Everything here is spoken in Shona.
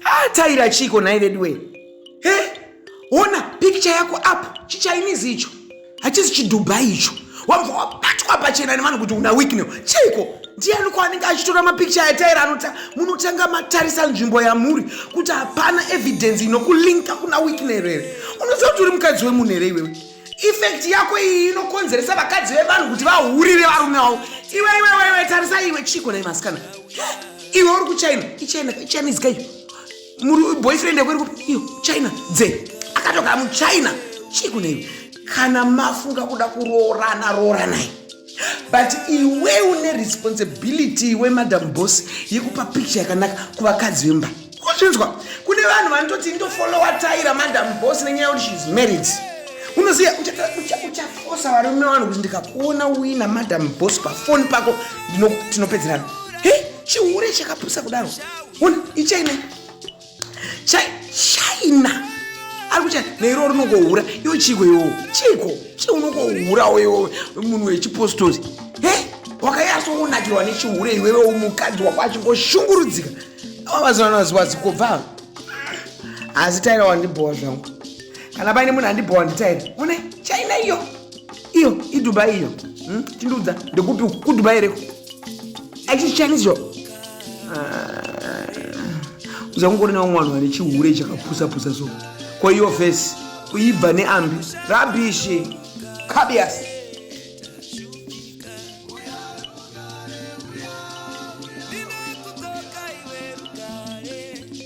ataira chiiko nhai veduwe he ona picture yako up chichainizi icho hachisi chidubai icho wabva wabatwa pachena nevanhu kuti una weaknel chiiko ndiani kwaanenge achitora mapicture ataira anoti munotanga matarisa nzvimbo yamuri kuti hapana evidence inokulinka kuna weaknel here unoziva kuti uri mukadzi wemunhu here iwewe effect yako iyi inokonzeresa vakadzi vevanhu kuti vahurire varume wavo iwe iwe iwe iwe tarisa iwe chiko nai masikana iwe uri kuchina ichina ichina izika iyo muri boyfriend yako iri kupi iyo china dze akatoka muchina chiko naiwe kana mafunga kuda kuroorana rooranai but iwe une responsibility iwe madam boss yekupa picture yakanaka kuvakadzi vemba kuzvinzwa kune vanhu vanototi ndofolowa taira madam boss nenyaya yekuti sheis married unoziva uchafosa varume vanhu kuti ndikakuona uina madam boss pafoni pako tinopedzerana he chihure chakapusa kudaro ichaine china ari kucha neiro rinongohura iwo chiko iwo chiko chi unongohurawo iwo munhu wechipostosi he wakayasoonakirwa nechihure iwewe umukadzi wako achingoshungurudzika ava mazivano vaziwazi kobva asi taira wandibhowa zvangu kana paine munhu andibhowa nditaira une china iyo iyo idubai iyo hmm? tindiudza ndekupi kudubai reko aisi chinese yo ah. uzakungori nawo mwana wane chihure chakapusapusa so ko iyo fesi kuibva neambi rabishi kabiasi